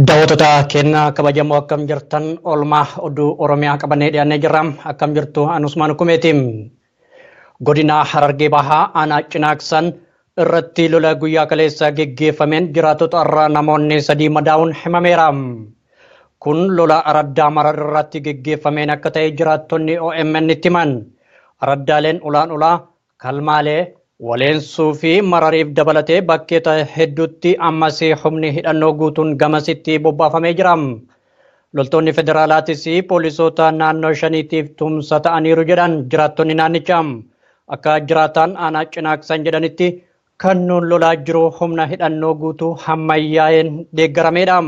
Daawwattoota keenya kabajamoo akkam jirtan oolmaa oduu Oromiyaa qabannee dhiyaannee jirra. Akkam jirtu Anusmaan Kumeeti. Godina Harargee Bahaa Aanaa Cinaaksan irratti lola guyyaa kaleessa geggeeffameen jiraatota irraa namoonni sadii madaa'uun himameera. Kun lola araddaa marar irratti geggeeffameen akka ta'e jiraattonni OMN itti himan. Araddaaleen ulaan ulaa, kalmaalee, waleensuu fi marariif dabalatee bakkeeta hedduutti ammas humni hidhannoo guutuun gamasitti bobbaafamee jira. Loltoonni federaalaatis poolisoota naannoo shaniitiif tumsa ta'aniiru jedhan jiraattonni naannichaa. Akka jiraataan aanaa cinaaksan jedhanitti kan nuun lolaa jiru humna hidhannoo guutuu hammayyaa'een deeggarameedha.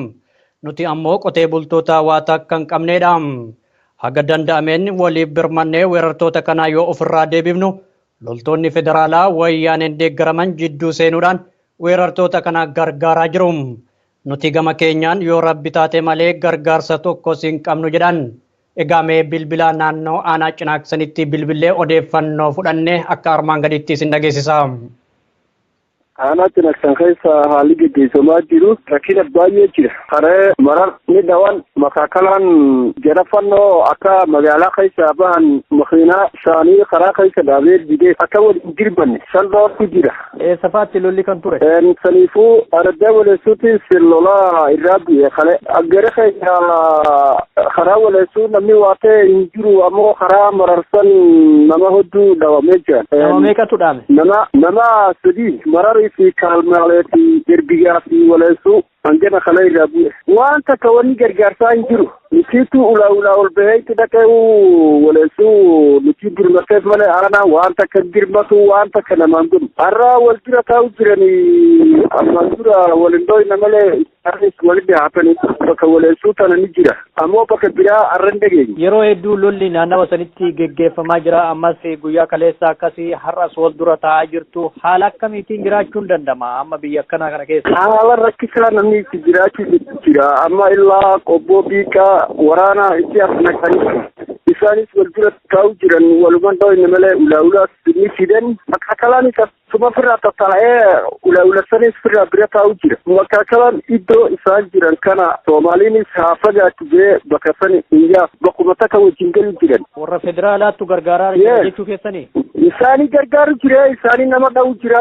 Nuti ammoo qotee bultoota waa takka hin qabneedha. Haga danda'ameen waliif birmannee weerartoota kanaa yoo ofirraa deebifnu loltoonni federaalaa wayyaaneen deeggaraman jidduu seenuudhaan weerartoota kana gargaaraa jiru. Nuti gama keenyaan yoo Rabbi taate malee gargaarsa tokkos hin qabnu jedhan. Egaa mee bilbila naannoo aanaa cinaaksanitti bilbillee odeeffannoo fudhanne akka armaan gadiitti isin dhageessisa. Aanaa cinaksan keessa haalli geggeessamaa jiru rakkina baay'ee jira. Karee marar ni dhawan makaakalaan jara fannoo akka magaalaa keessa bahan makiinaa isaanii karaa keessa dhaabee didee akka waliin dirbanne salphaatu jira. Eessa faatti lolli kan ture? Saniifuu araddaa waleessuutis lolaa irraa bu'e kale. Aggere keenya karaa waleessuu namni waa ta'e hin jiru ammoo karaa mararsan nama hedduu dhabamee jira. Nama meeqatu dhaame? Nama nama sadii mararii fi kaalmaalee fi erbiyaa fi waleessuu. hanqina kana irraa bu'e. Waan takka wanni gargaarsaa hin jiru. Nukiitu ulaa ulaa ol bahee itti dhaqee waleessuu nuti dirmateef malee aanaa waan takka dirmatu waan takka namaan godhu. Har'a wal dura taa'u jiranii ammaan dura wal hin dhooyne malee isaanis walitti haatanii bakka waleessuu tana ni jira. Ammoo bakka biraa har'a hin dhageenye. Yeroo hedduu lolli naannawa sanitti geggeeffamaa jira. Ammas guyyaa kaleessaa akkasii har'as wal dura taa'aa jirtu. Haala akkamiitiin jiraachuun danda'ama amma biyya akkanaa kana keessa? Haala rakkisaa namni itti jiraachuu jira. Amma illaa qobboo biiqaa waraanaa itti as naqanii isaanis wal dura taa'uu jiran walumaan dhawinne malee ulaa ulaas ni fidan akkalaanis as Suma firraa tattaa'ee ula ulasanis firraa bira taa'u jira. Makaakalaan iddoo isaan jiran kana Soomaaliinis haa fagaatu jee bakka sani hin yaasu. Bakkuma takka wajjin galu jiran. Warra federaalaattu gargaaraa jira Yes. jechuu keessanii? Isaanii gargaaru jira, isaanii nama dha'u jira.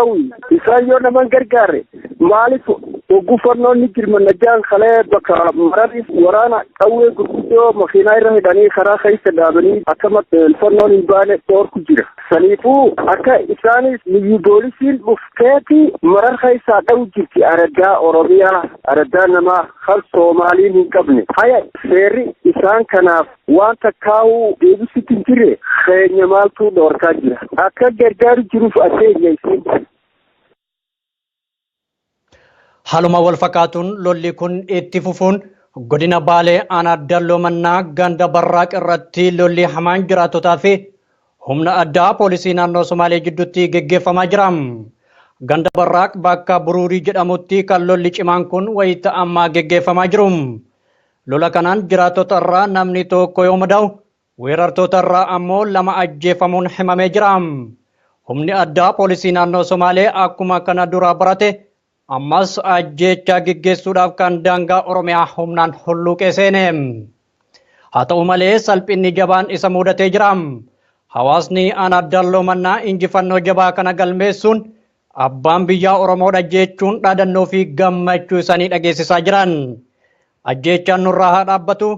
Isaan yoo nama hin gargaarre maaliif oggufannoon ni jirmanna jaan kalee bakka maraniif waraana qawwee gurguddoo makiinaa irra hidhanii karaa keessa dhaabanii akkama fannoon hin baane dhoorku jira. Saniifuu akka isaanis liyyu boolisiin dhufteeti marar keessaa dha'u jirti araddaa Oromiyaa araddaa namaa kan Soomaaliin hin qabne haya seerri isaan kanaaf waan takkaa'u deebisitti hin jirre keenya maaltu dhoorkaa jira akka gargaaru jiruuf adeenya isin. Haaluma wal fakkaatuun lolli kun itti fufuun godina Baalee aanaa Dalloo Mannaa ganda Barraaq irratti lolli hamaan jiraattotaa fi humna addaa poolisii naannoo Somaalee jidduutti geggeeffamaa jira. Ganda Barraaq bakka Buruurii jedhamutti kan lolli cimaan kun wayita ammaa geggeeffamaa jiru. Lola kanaan jiraattota irraa namni tokko yoo madaa'u Weerartoota irraa ammoo lama ajjeefamuun himamee jira. Humni addaa poolisii naannoo Somaalee akkuma kana duraa barate ammas ajjeechaa geggeessuudhaaf kan daangaa Oromiyaa humnaan hulluuqee seene. Haa ta'u malee salphinni jabaan isa muudatee jira. Hawaasni aanaa Dalloo Mannaa injifannoo jabaa kana galmeessuun abbaan biyyaa Oromoodha jechuun dhaadannoo fi gammachuu isaanii dhageessisaa jiran. Ajjeechaan nurraa haa dhaabbatu,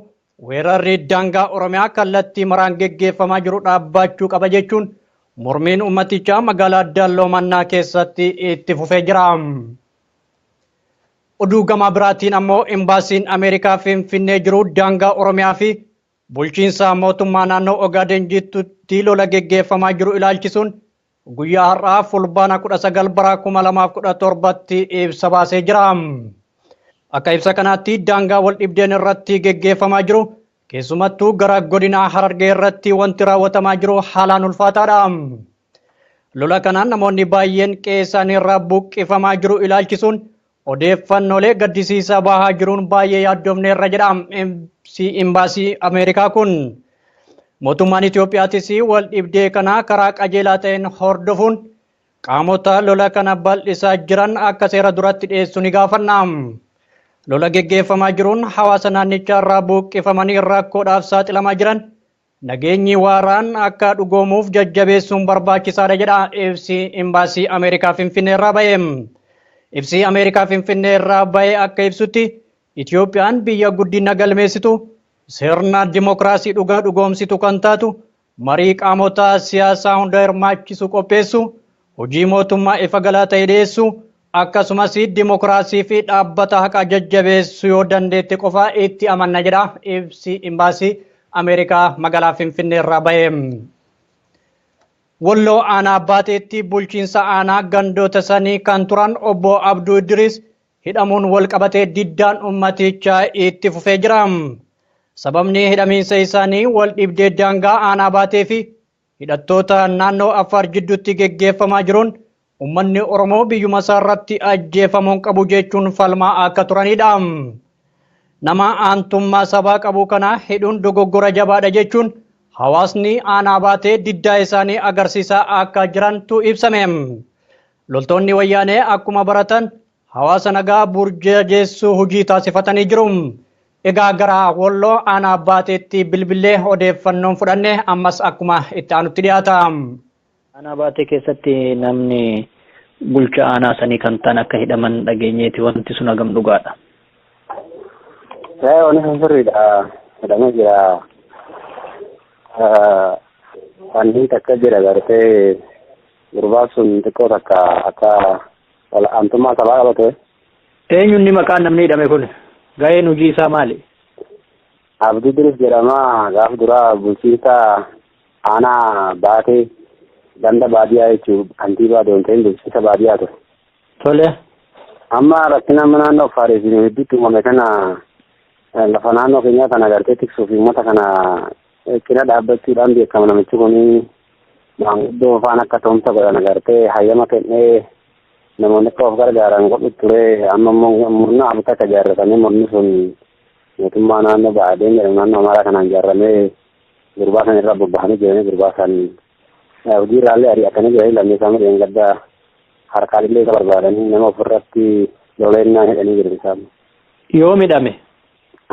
Weerarri daangaa Oromiyaa kallattii maraan geggeeffamaa jiru dhaabbaachuu qaba jechuun mormiin uummatichaa magaalaa Dalloo Mannaa keessatti itti fufee jira. Oduu gamaa biraatiin ammoo imbaasiin Ameerikaa Finfinnee jiru daangaa Oromiyaa fi bulchiinsa mootummaa naannoo Ogaaden jidduutti lola geggeeffamaa jiru ilaalchisuun guyyaa har'aa fulbaana 19 bara 2017tti ibsa baasee jira. Akka ibsa kanaatti daangaa wal dhibdeen irratti geggeeffamaa jiru keessumattuu gara godinaa Harargee irratti wanti raawwatamaa jiru haalaan ulfaataadha. Lola kanaan namoonni baay'een qe'ee isaanii irraa buqqifamaa jiru ilaalchisuun Odeeffannolee gaddisiisaa bahaa jiruun baay'ee yaaddomneerra jedha imbaasii Ameerikaa kun. Mootummaan Itoophiyaatis wal dhibdee kana karaa qajeelaa ta'een hordofuun qaamota lola kana bal'isaa jiran akka seera duratti dhiyeessu ni gaafanna. Lola geggeeffamaa jiruun hawaasa naannichaa irraa buuqqifamanii rakkoodhaaf saaxilamaa jiran Nageenyi waaraan akka dhugoomuuf jajjabeessuun barbaachisaadha jedha ibsi Imbaasii Ameerikaa Finfinneerraa ba'e. Ibsi Ameerikaa Finfinneerraa ba'e akka ibsutti Itiyoophiyaan biyya guddina galmeessitu, sirna dimokiraasii dhugaa dhugoomsitu kan taatu, marii qaamota siyaasaa hunda hirmaachisu qopheessu, hojii mootummaa ifa galaa ta'e dhiyeessu akkasumas dimokiraasii fi dhaabbata haqaa jajjabeessu yoo dandeette qofa itti amanna jedha ibsi imbaasii Ameerikaa magaalaa Finfinnee irraa bahe. Walloo aanaa baaxeetti bulchiinsa aanaa gandoota sanii kan turan obbo Abduu Idris hidhamuun wal qabatee diddaan ummaticha itti fufee jira. Sababni hidhamiinsa isaanii wal dhibdee daangaa aanaa baatee fi Hidhattoota naannoo Affaar jidduutti geggeeffamaa jiruun ummanni Oromoo biyyuma isaa irratti ajjeefamuun qabu jechuun falmaa akka turanidha. Nama aantummaa sabaa qabu kana hidhuun dogoggora jabaadha jechuun hawaasni aanaa baatee diddaa isaanii agarsiisaa akka jirantu ibsame. Loltoonni wayyaanee akkuma baratan Hawaasa nagaa burjajeessuu hojii taasifatanii jiru. Egaa gara Walloo aanaa Baateetti bilbillee odeeffannoon fudhanne ammas akkuma itti aanutti dhiyaata. Aanaa Baatee keessatti namni bulchaa aanaa sanii kan ta'an akka hidhaman dhageenyeeti wanti sun hagam dhugaadha? Ee wanni sun sirriidha. Hidhamee jira. Wanni takka jira gartee gurbaan sun xiqqoo takka akka Wal'aantummaa sabaa qabate. Eenyunni maqaan namni hidhame kun? Gaheen hojii isaa maali? Abdii Idris jedhama. Gaaf duraa bulchiinsa aanaa baatee ganda baadiyyaa jechuun kantiibaa doonteen bulchiinsa baadiyyaa ture. Tole. Amma rakkina amma naannoo Affaariif hedduutti uumame kana lafa naannoo keenyaa kana gartee tiksuuf uummata kana cina dhaabbachuudhaan beekama namichi kun maanguddoo faan akka ta'umsa godhan agartee hayyama kennee namoonni akka of gargaaran godhu ture amma immoo murna abita akka ijaarratanii murni sun mootummaa naannoo ba'adeen jedhamu naannoo amaaraa kanaan ijaarramee gurbaa san irra bobba'anii jiranii gurbaa san hojii irraallee ari'atanii jiranii lammii isaa midheen gaddaa harkaalillee isa barbaadanii nama ofirratti loleennaan hidhanii jiru isaan. Yoo midhame.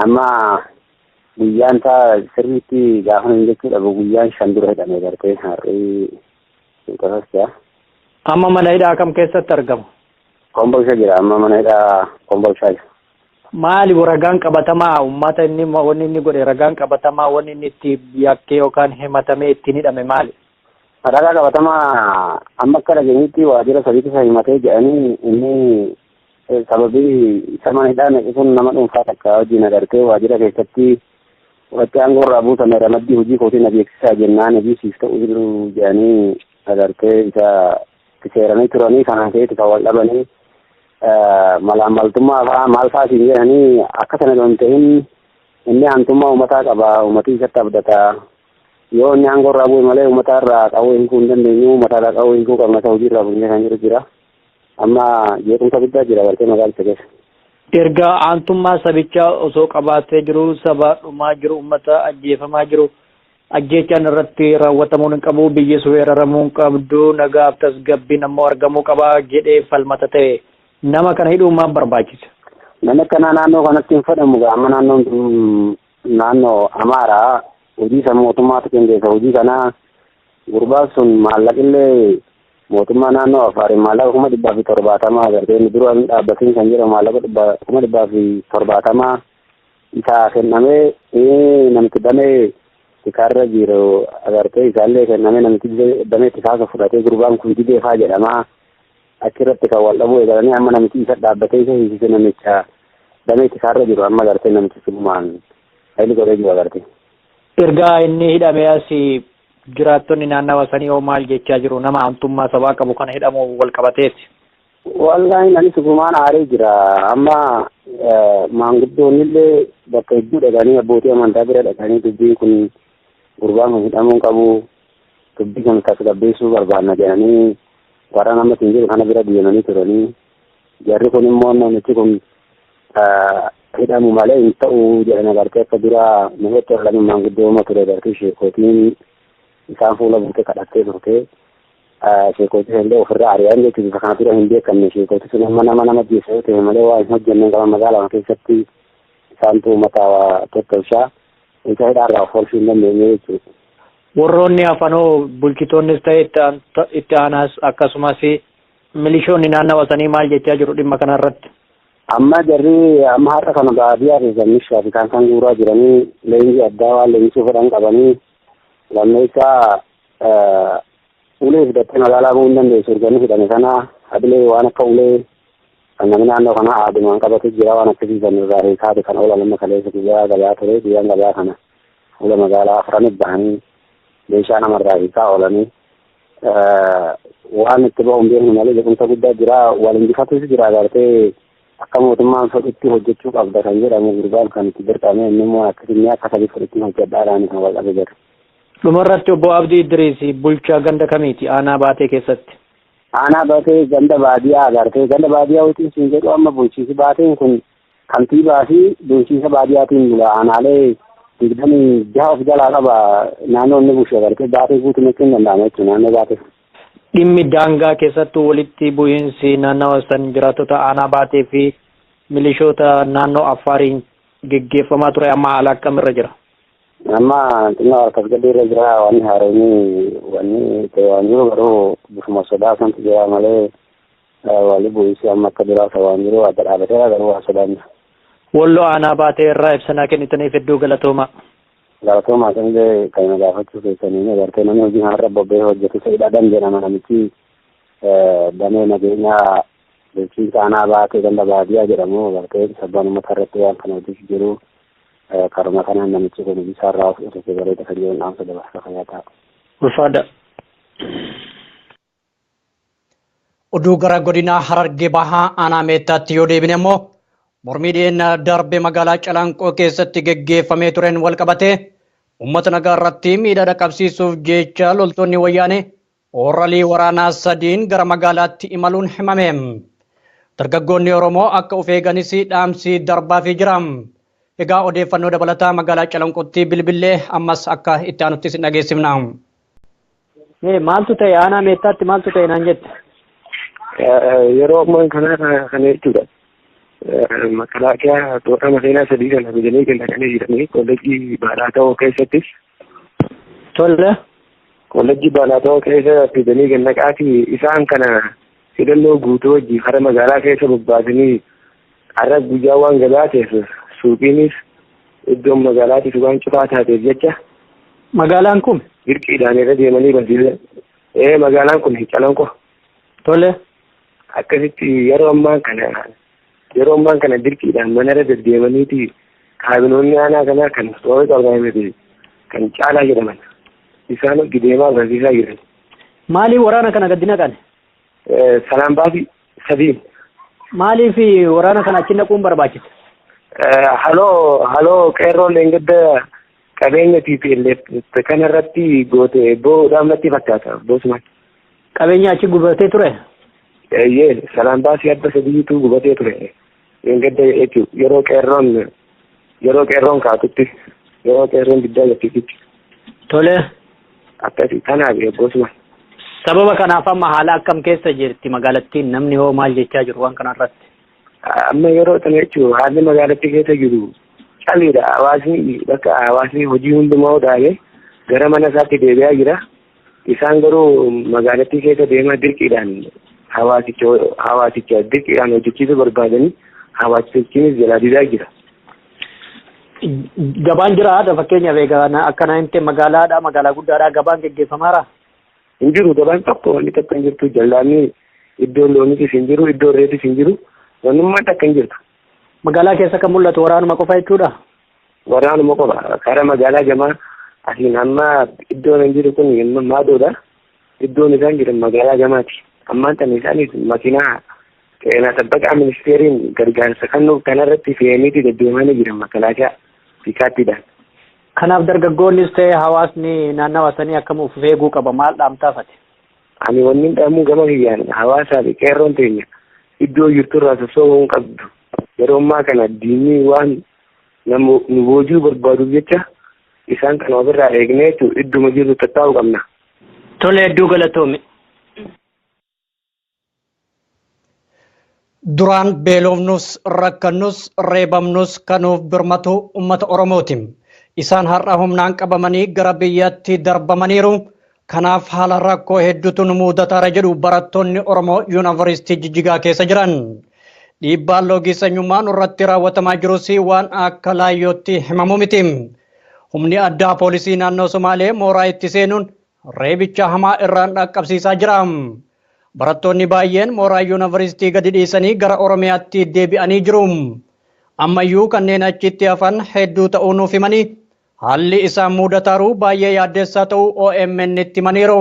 Amma Guyyaan isaa sirriitti gaafa hin jechuu dhabu guyyaan shan dura hidhamee bartee har'ii suutasas jira. Amma mana hidhaa kam keessatti argamu? Kombolsha jira amma mana hidhaa kombolshaa jira. Maali ragaan qabatamaa uummata inni wanni inni godhe ragaan qabatamaa wanni inni itti yakkee yookaan himatamee ittiin hidhame maali? Ragaa qabatamaa amma akka dhageenyutti waajjira sadiitti isa himatee jedhanii inni Sababii isa mana hidhaa naqe kun nama dhuunfaa takka wajjin agartee waajjira keessatti waqtii aangoo irraa buutame ramaddii hojii kootii na beeksisaa jennaan hojii siif ta'u jiru jedhanii agartee isa itti seeranii turanii kanaan ka'eeti kan wal dhabanii malaammaltummaa fa'aa maal fa'aa siin jedhanii akka sana osoo hin ta'in inni aantummaa uummataa qaba uummatii isatti abdata yoo inni aangoo irraa bu'e malee uummataa irraa qawwee hiikuu hin dandeenyu uummataa irraa qawwee hiikuu qabna isa hojii irraa bu'ee kan jiru jira. Amma jeequmsa guddaa jira bartee magaalicha keessa. Erga aantummaa sabichaa osoo qabaatee jiru saba dhumaa jiru ummata ajjeefamaa jiru ajjeechaan irratti raawwatamuun hin qabu biyyis weeraramuu hin qabdu nagaaf tasgabbiin ammoo argamuu qaba jedhee falmata ta'e nama kana hidhuu maaf barbaachise. Namni akkanaa naannoo kanatti hin fedhamu gaa amma naannoon tun naannoo Amaaraa hojii san mootummaatu qindeessa hojii kana Gurbaan sun maallaqillee mootummaa naannoo Afaariin maallaqa kuma dhibbaa fi torbaatamaa agartee inni dura hin dhaabbatiin kan jedhamu maallaqa dhibba- kuma dhibbaa fi torbaatamaa isaa kennamee eh, namichi damee tikaarra jiru agartee isaallee kennamee namichi dide- damee tikaasa fudhatee gurbaan kun dideefaa jedhamaa achirratti kan wal dhabuu eegalanii amma namichi isa dhaabbatee isa hiisise namicha damee tikaarra jiru amma agartee namichi sunumaan haili godhee jiru agartee. Erga inni hidhamee as jiraattonni naannawa sanii hoo maal jechaa jiru? Nama aantummaa sabaa qabu kana hidhamuun wal qabateeti. Wallaahi anis dhugumaan aaree jira. Amma maanguddoonni illee bakka hedduu dhaqanii abbootii amantaa bira dhaqanii dubbiin kun gurbaan kun hidhamuu hin qabu dubbii kana tasgabbeessuu barbaanna jedhanii warra nama siin jedhu kana bira deemanii turanii Jarri kun immoo namichi kun hidhamu malee hin ta'u jedhan agartee akka dura namitti olaanuu maanguddooma ture agartee sheekootiin isaan fuula buutee kadhattee turte. Sheekootii illee ofirraa ari'an jechuun bifa kana dura hin beekamne sheekootii sun amma nama nama jeessa yoo ta'e malee waa hin hojjenne qaban magaalaa keessatti isaantu uummata tottolchaa isa hidhaarraa of oolchuu hin dandeenye jechuudha. Warroonni hafanoo bulchitoonnis ta'e itti aanaas akkasumas Milishoonni naannawa sanii maal jechaa jiru dhimma kana irratti? Amma jarri amma har'a kana baadiyyaa keessa mishaa fi kan kan guuraa jiranii leenjii addaa waan leenjisuu fedhan qabanii lammeessaa ulee fidattee magaalaa bu'uu hin dandeessu erganii hidhame sana hadilee waan akka ulee kan namni naannoo kanaa aadumaan qabatu jira waan akkasii san irraa hiikaati kan oolan amma kaleessa guyyaa gabaa ture guyyaan gabaa kana fuula magaalaa afranitti bahanii meeshaa namarraa hiikaa oolanii waan itti bahu hin beeknu malee jequmsa guddaa jira wal injifatuus jira agartee akka mootummaan fedhutti hojjechuu qabda kan jedhamu gurbaan kan itti dirqame inni immoo akkasumni akka sadii fudhitti hojjedhaadhaan kan wal qabe jira. Dhumarratti obbo Abdii Idriis bulchaa ganda kamiiti aanaa baatee keessatti? Aanaa baatee ganda baadiyaa agartee ganda baadiyaa wajjin siin jedhu amma bulchiisi baateen kun Kantiibaa fi bulchiinsa baadiyaatiin bula aanaalee digdamii jaha of jalaa qaba naannoo inni bulchu dabalatee baatee guutuu jechuun danda'ama jechuudha naannoo baatee. Dhimmi daangaa keessattuu walitti bu'iinsi naannawa san jiraattota aanaa baatee fi milishoota naannoo Affaariin geggeeffamaa ture amma haala akkamirra jira? Amma xinnoo harkas gadii irra jira wanni haaromii wanni ta'e waan jiru garuu bifuma sodaa santu jira malee Waalli bu'iinsi amma akka duraa ta'aa hin jiru adda dhaabateera garuu waan sodaan jira. Wollo aanaa baatee irraa ibsa naa kennitaniif hedduu galatoomaa. Galatoomaa sanillee kan na gaafachuu keessaniin agartee namni hojii kanarra bobba'ee hojjetu Sa'id Adam jedhama namichi damee nageenyaa bulchiinsa aanaa baatee ganda baadiyaa jedhamu agartee sabbaan uummata irratti waan kana hojjetu jiru karuma kanaan namichi kun hojiisaa irraa of dhufee bareeda kan jiru dhaamsa dabarsa fayyaa ta'a. Ulfaadha. Oduu gara godinaa Harargee Bahaa aanaa Meettaatti yoo deebine immoo mormii dhiyeenya darbe magaalaa Calanqoo keessatti geggeeffamee tureen walqabatee uummata nagaa irratti miidhaa dhaqqabsiisuuf jecha loltoonni wayyaanee ooralii waraanaa sadiin gara magaalaatti imaluun himame. Dargaggoonni Oromoo akka of eeganis dhaamsii darbaafii jira. Egaa odeeffannoo dabalataa magaalaa Calanqootti bilbillee ammas akka itti aanutti isin dhageessifna. Mee maaltu ta'e aanaa meettaatti maaltu ta'e naan jette? Yeroo ammaan kanaa kana jechuudha. Makalaakiyaa toora maseenaa sadii kan ajajanii kan dhaqanii jiranii koolleejjii baalaa ta'oo keessatti. Tolle. Koolleejjii baalaa ta'oo keessa fidanii kan dhaqaati isaan kana hidhannoo guutuu wajjin hara magaalaa keessa bobbaasanii Har'a guyyaa waan gabaa ta'eef suuqiinis iddoon magaalaatis waan cufaa taateef jecha. Magaalaan kun? Dirqiidhaan irra deemanii barsiisan. Ee magaalaan kun Calanqo. Tole. Akkasitti yeroo ammaa kana yeroo ammaa kana dirqiidhaan manarra deddeemaniiti kaabinoonni aanaa kanaa kan toora qabaamete kan caalaa jedhaman isaan gideemaa barsiisaa jiran. Maaliif waraana kana gadi naqan? Sanaan baasi sadiin. Maaliif waraana kana achi naquun barbaachise? Haloo haloo qeerroon leengadda qabeenya TPLF kana irratti goote boo'uudhaaf natti fakkaata boosuma. Qabeenya achi gubatee ture? Eeyyee sanaan baasii adda sadiitu gubatee ture. Dheengadda jechuun yeroo qeerroon yeroo qeerroon kaatutti yeroo qeerroon diddaa jirtutti Tole. akkasii kanaaf eeggoosuma. Sababa kanaaf amma haala akkam keessa jirti magaalattiin namni hoo maal jechaa jiru waan kanarratti? Amma yeroo sana jechuun haalli magaalattii keessa jiru caliidha hawaasni bakka hawaasni hojii hundumaa dhaabee gara mana isaatti deebi'aa jira. Isaan garuu magaalattii keessa deemaa dirqiidhaan hawaasicha hawaasicha dirqiidhaan hojjechiisuu barbaadanii hawaasichinis jalaa didaa jira. Gabaan jira haadha fakkeenyaaf egaa na- akka naannoo magaalaadha magaalaa guddaadha gabaan geggeeffamaara. Hin jiru gabaan tokko wanni tokko hin jirtu jallaanni iddoo loonitis hin jiru iddoo reetis hin jiru wannummaan takka hin jirtu. Magaalaa keessa kan mul'atu waraanuma qofa jechuudha. Waraanuma qofa karaa magaalaa gamaa asiin amma iddoon hin jiru kun maadoodha. Iddoon isaan jiran magaalaa gamaati. Ammaan tan isaanis makiinaa qeenaa sabbaqaa ministeeriin gargaarsa kennuuf kanarratti fe'aniiti deddeemanii jiran makalaakaa fiikaattiidhaan. Kanaaf dargaggoonnis ta'e hawaasni naannawa sanii akkam of eeguu qaba maal dhaamtaafate? Ani wanni dhaamuu gama kiyyaan hawaasaa fi qeerroon teenya iddoo jirturraa sossoo'uu hin qabdu. Yeroo ammaa kana diinni waan nama nu boojuu barbaaduuf jecha isaan kana ofirraa eegnee jechuun idduma jirru tattaa'uu qabna. Tole hedduu galatoomi. Duraan beelofnus, rakkannus, reebamnus kan nuuf birmatu uummata Oromooti. Isaan har'a humnaan qabamanii gara biyyatti darbamaniiru. Kanaaf haala rakkoo hedduutu nu muudataara jedhu barattoonni Oromoo Yuunivarsiitii Jijjigaa keessa jiran. Dhiibbaan loogii sanyummaa nurratti raawwatamaa jirus waan akka laayyootti himamu miti. Humni addaa poolisii naannoo Somaalee mooraa itti seenuun reebicha hamaa irraan dhaqqabsiisaa jira. Barattoonni baay'een mooraa yuunivarsiitii gadi dhiisanii gara Oromiyaatti deebi'anii jiru. Ammayyuu kanneen achitti hafan hedduu ta'uu nuuf himanii Haalli isaan muudataaru baay'ee yaaddeessaa ta'uu OMN'tti himaniiru.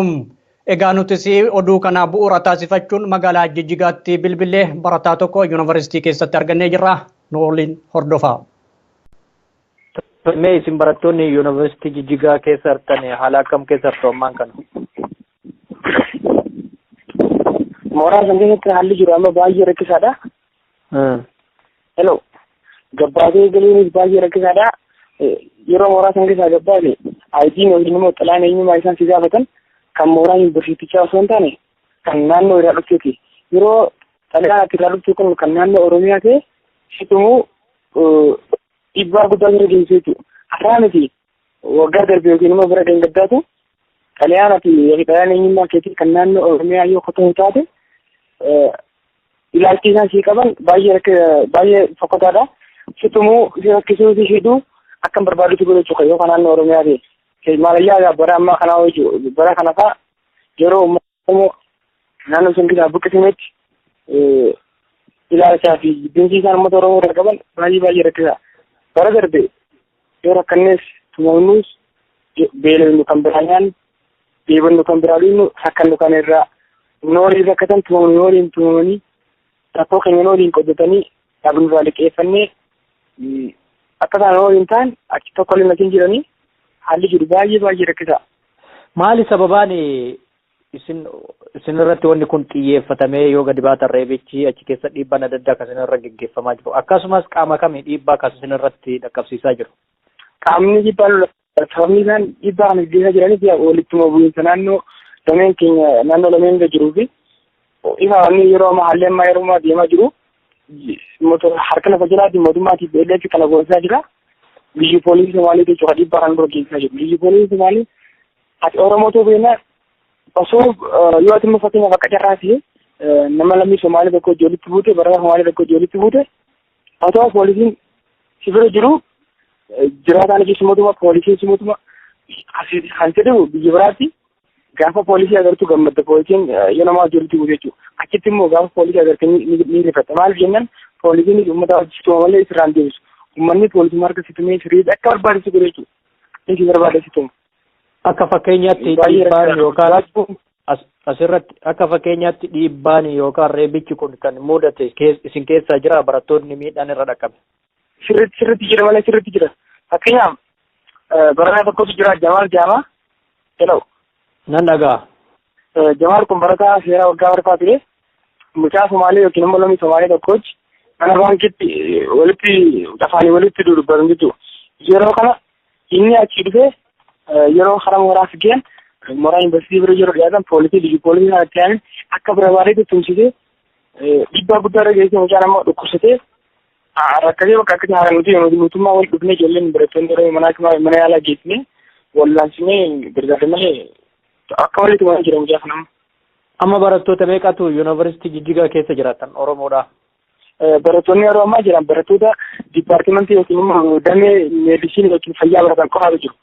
Egaa nutis oduu kana bu'uura taasifachuun magaalaa Jijjigaatti bilbillee barataa tokko yuunivarsiitii keessatti argannee jirra. Nu waliin hordofaa. Mee isin barattoonni yuunivarsiitii Jijjigaa keessa jirtan haala akkam keessa jirtu ammaan kana? Mooraa san keessatti haalli jiru amma baay'ee rakkisaadha. Hmm. Hello. Gabbaatee galiinis baay'ee rakkisaadha. Eh, Yeroo mooraa san keessaa gabbaate ayitiin yookiin immoo xalaan eenyummaa isaan si gaafatan kan mooraa yuunivarsiitichaa osoo hin taane kan naannoo irraa dhufteeti. Yeroo xalaan ati irraa dhufte kun kan naannoo Oromiyaa ta'e situmuu eh, dhiibbaa guddaa jira geessisuu jechuudha. Haraa miti waggaa darbe yookiin immoo bara gangaddaatu xalayaan ati yookiin xalayaan eenyummaa keetii kan naannoo Oromiyaa yoo qotuu hin taate ilaalchi isaan sii qaban baay'ee rakka baay'ee fokkataadha. Situmuu si rakkisuu si hidhuu akka hin barbaadutti godhu jechuudha yoo kan naannoo Oromiyaa ta'e. Maalayyaa bara ammaa kanaa hojii bara kana fa'aa yeroo Oromoo naannoo san keessaa buqqisineetti ilaalchaa fi jibbinsi isaan uummata Oromoo irraa qaban baay'ee baay'ee rakkisaa. Bara darbe yoo rakkannees tumamnuus beelofnu kan biraa nyaannu dheebonnu kan biraa dhugnu rakkannu kan irraa noolii rakkatan tumamnu nooliin tumamanii rakkoo keenya waliin qoddatanii dhaabnurraa liqeeffannee akka isaan waliin ta'an achi tokko illee natiin jiranii haalli jiru baay'ee baay'ee rakkisaa. Maali sababaan isin isin irratti wanni kun xiyyeeffatamee yoo gadi baatan reebichi achi keessa dhiibbaan adda addaa kan isin irra geggeeffamaa jiru akkasumas qaama kamii dhiibbaa kan isin irratti dhaqqabsiisaa jiru. Qaamni dhiibbaa Sababni isaan dhiibbaa kana gaggeessaa jiranis walittuma bu'iinsa naannoo dameen keenya naannoo lameen irra jiruu fi ifa inni yeroo ammaa haalli ammaa yeroo ammaa deemaa jiru harka lafa jalaatiin mootummaa TPLF kana goonsaa jira. Biyyi poolisii Somaalee jechuudha dhiibbaa kana dura geessisaa jiru. Biyyi poolisii Somaalee ati Oromoo ta'uu beeknaa osoo yoo ati immoo fakkeenyaaf akka carraa ta'e nama lammii Somaalee tokko ijoollitti buute barataa Somaalee tokko ijoollitti buute Otoo poolisiin si bira jiru jiraataan jechi mootummaa poolisiin si mootummaa asiiti kan jedhu biyya biraatti gaafa poolisii agartu gammadda poolisiin yoo nama wajjirti bu'u jechuudha. Achitti immoo gaafa poolisii agarte ni rifata. Maaliif jennaan poolisiin uummata wajjirtuma malee sirraan deebisu. Uummanni poolisii harka situmee sirrii akka barbaadu si godha jechuudha. Inni si barbaada situma. Akka fakkeenyaatti Dhiibbaan ni dhiibbaan rakkisa. yookaan Rakkoon- as- asirratti akka fakkeenyaatti dhiibbaan yookaan reebichi kun kan mudate kees- isin keessaa jira barattoonni miidhaan irra dhaqqabe. sirriitti sirriitti jira malee sirriitti jira. Fakkeenyaaf eh, barataa tokkotu jira Jamaal Jaamaa jedhamu. Nan dhaga'a. Eh, Jamaal kun barataa seeraa waggaa barfaa ture. Mucaa Somaalee yookiin immoo lammii Somaalee tokkochi mana baankiitti eh, walitti afaanii walitti dudubbatan jechuudha. Yeroo kana Inni achi dhufee yeroo karaa mooraa fiigeen mooraa yuunivarsiitii bira yeroo dhiyaatan poolisii liyyu poolisii sana itti aanin akka barbaadeetti tumsisee dhiibbaa guddaa irra geessee mucaan ammoo dhukkubsatee rakkatee bakka akkatti haala nuti nuti mootummaa wal dhufnee ijoolleen barattoonni yeroo manaa kimaa mana yaalaa geessine wallaansine gargaarre malee akka walitti waan jira mucaa kana. Amma barattoota meeqatu yuunivarsiitii jijjigaa keessa jiraatan Oromoodha? Barattoonni yeroo ammaa jiran barattoota dipaartimentii yookiin immoo damee meedisinii yookiin fayyaa baratan qofaatu jiru.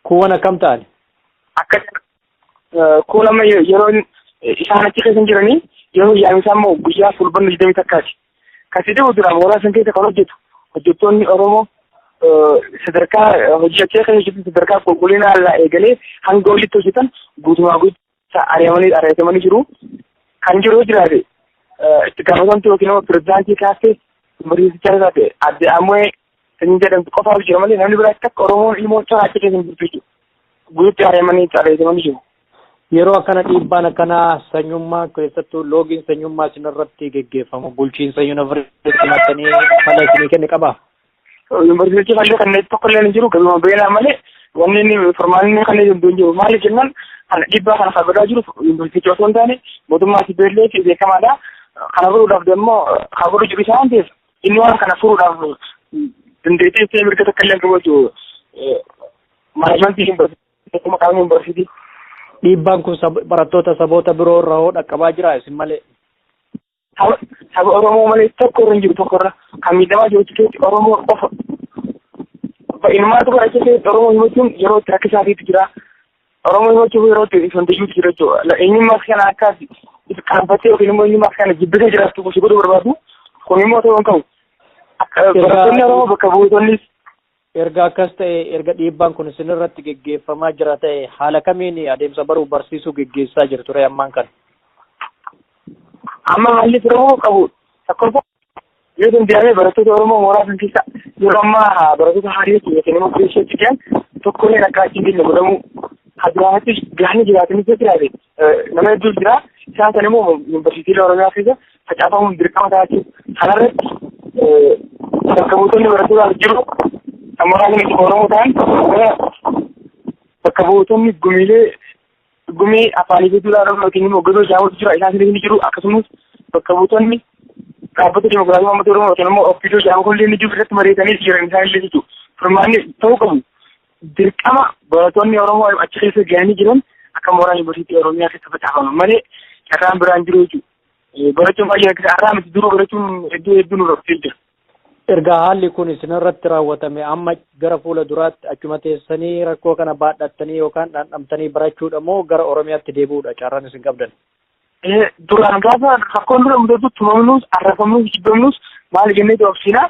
Kuuwwan akkam ta'an? Akka kuun amma yeroo isaan achi keessa jiranii yeroo yaa'insaa immoo guyyaa fulbanna digdamii takkaati. Kasi dhibu dura mooraa san keessa kan hojjetu hojjettoonni Oromoo sadarkaa hojii achee kan hojjetu sadarkaa qulqullina irraa eegalee hanga olitti hojjetan guutumaa guutuu ari'amanii ari'atamanii jiru. Kan jiru jiraate itti gaafatamtu yookiin immoo pirezidaantii kaaftee mariisichaa irraa ta'e adde ammoo kan jedhamtu qofaaf jira malee namni biraa takka Oromoon ilmoon isaa achi keessa hin jirtu jechuudha. Guututti ari'amanii ari'atamanii jiru. Yeroo akkana dhiibbaan akkanaa sanyummaa keessattuu loogiin sanyummaa isinirratti geggeeffamu bulchiinsa yuunivarsiitii mattanii fala isinii kenne qabaa? Yuunivarsiitii malee kan tokko illee hin jiru galuma beelaa malee wanni inni formaanni inni kan hin jiru maali jennaan kan dhibbaa kana kabadaa jiru yuunivarsiitii osoo hin taane mootummaa si beellee fi beekamaadha. Kana furuudhaaf deemmoo kan godhu jiru isaa waan ta'eef inni waan kana furuudhaaf dandeettii ishee mirga takka illee qabu jechuudha. Maanajimantii yuunivarsiitii maqaan yuunivarsiitii. Dhiibbaan kun barattoota saboota biroo irra hoo dhaqqabaa jira isin malee? Saba saba Oromoo malee tokko irra hin jiru tokko irra kan miidhamaa jiru keessatti Oromoo qofa. Baay'inummaatu bara keessatti Oromoo himachuun yeroo itti rakkisaatiitu jira. Oromoo himachuuf yeroo itti ifantiyuutu jira jechuudha. Eenyummaa kana akka qaanfattee yookiin immoo eenyummaa kana jibbitee jiraattu gosi godhuu barbaadu kun immoo ta'uu hin qabu. Akka barattoonni Oromoo bakka buutonnis Erga akkas ta'ee, erga dhiibbaan kun isinirratti geggeeffamaa jira ta'e, haala kamiin adeemsa baruuf barsiisuu geggeessaa jirtu ree ammaan kana? Amma haalli furamuu qabu tokkoffaa yoo danda'ame barattoota Oromoo mooraa san keessa yeroo ammaa barattoota haarii keenya kan immoo keessatti jiran tokkolleen akka achi hin geenye godhamuu hadduraanattis gahanii jiraatanii jiraate Nama hedduu jira. Isaan sana immoo yuunivarsiitiilee Oromiyaa keessa facaafamuun dirqama ta'a jechuudha. Kanarratti bakka buutonni barattootaas jiru. Amma baay'een itti Oromoo ta'an gara bakka buutonni gumiilee gumii afaanii fi duudhaa Oromoo yookiin immoo gosa jaawwatu jira. Isaan sana ni jiru. Akkasumas bakka buutonni dhaabbata dimokiraatawaa uummata Oromoo yookiin immoo ofiidoo jaawwatu illee ni jiru irratti mari'atanii jiran isaan illee jechuudha. Furmaanni ta'uu qabu. dirqama barattoonni Oromoo achi keessa gahanii jiran akka mooraa yuunivarsiitii Oromiyaa keessa facaafaman malee carraan biraan jiru jechuudha. Barachuun baay'ee rakkisaa har'aa miti duruu barachuun hedduu hedduu nu rakkisee jira. Erga haalli kun isinirratti raawwatame amma gara fuula duraatti achuma teessanii rakkoo kana baadhattanii yookaan dhandhamtanii barachuudha moo gara Oromiyaatti deebi'uudha carraan isin qabdan? Duraan gaafa rakkoon dura mudatu tumamnuus arrafamnuus jibbamnuus maal jennee doobsiinaa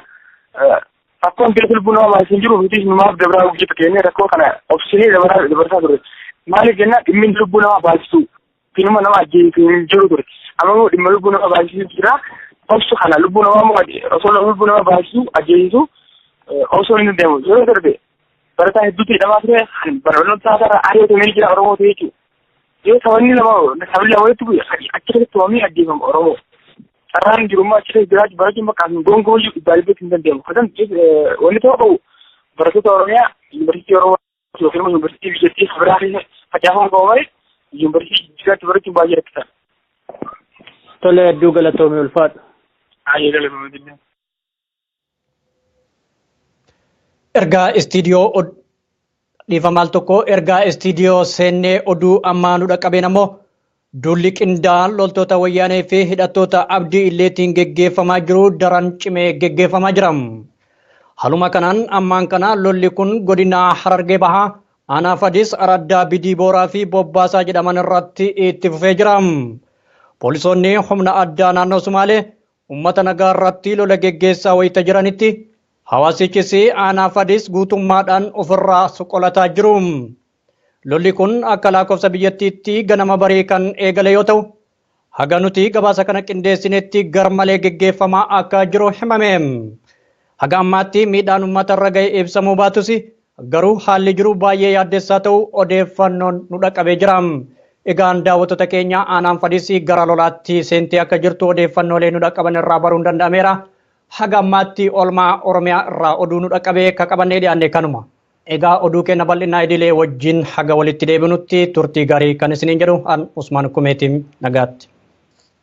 rakkoon biyya lubbuu nama maayis hin jiru nutis numaaf dabraa hojjetu keenyee rakkoo kana obsinee dabaraa dabarsaa turre maaliif jennaan dhimmi lubbuu nama baayisuu finuma nama ajjeesu hin jiru ture amma immoo dhimma lubbuu nama baayisuu jira obsu kana lubbuu nama immoo osoo lubbuu nama baayisuu ajjeesu osoo hin deemu yoo darbe barataa hedduutti hidhamaa ture kan barnoota isaarraa ari'atamee jira oromoo ta'e jechuudha. Yoo sabni lama sabni lama walitti bu'e achi keessatti waamee ajjeefama oromoo. carraan jiru immoo achi keessa jiraachuu barachuun bakka hin gongoojuu dhibbaa dhibbatti hin danda'amu. Kasan wanni ta'uu qabu barattoota Oromiyaa yuunivarsiitii Oromoo yookiin immoo yuunivarsiitii biyyattii biraa keessa facaafamuu qabu malee yuunivarsiitii jiraachuu barachuun baay'ee rakkisaa. Tole hedduu galatoomii ulfaadhu. Baay'ee galatoomii. Ergaa istiidiyoo dhiifama al tokko ergaa istiidiyoo seennee oduu ammaa nu dhaqqabeen ammoo duulli qindaa'aan loltoota wayyaanee fi hidhattoota abdii illeetiin geggeeffamaa jiru daran cimee geggeeffamaa jira. Haluma kanaan ammaan kana lolli kun godina Harargee Bahaa aanaa Fadis araddaa Bidii Booraa fi Bobbaasaa jedhaman irratti itti fufee jira. Poolisoonni humna addaa naannoo Sumaalee Ummata nagaa irratti lola geggeessaa wayita jiranitti hawaasichis aanaa Fadis guutummaadhaan ofirraa qolataa jiru. Lolli kun akka laakofsa biyyattiitti ganama barii kan eegale yoo ta'u, haga nuti gabaasa kana qindeessinetti garmalee geggeeffamaa akka jiru himame. Haga ammaatti miidhaan ummata irra gahe ibsamuu baatus Garuu haalli jiru baay'ee yaaddessaa ta'uu odeeffannoon nu dhaqqabee jira. Egaan daawwattoota keenya aanaan Fadis gara lolaatti seentee akka jirtu odeeffannoolee nu dhaqqaban irraa baruun danda'ameera. Haga ammaatti oolmaa Oromiyaa irraa oduu nu dhaqqabee ka qabannee dhiyaanne kanuma. Egaa oduu keenya bal'inaa idilee wajjin haga walitti deebinutti turtii gaarii kan isiniin jedhu an Usmaan Kumeetiin nagaatti.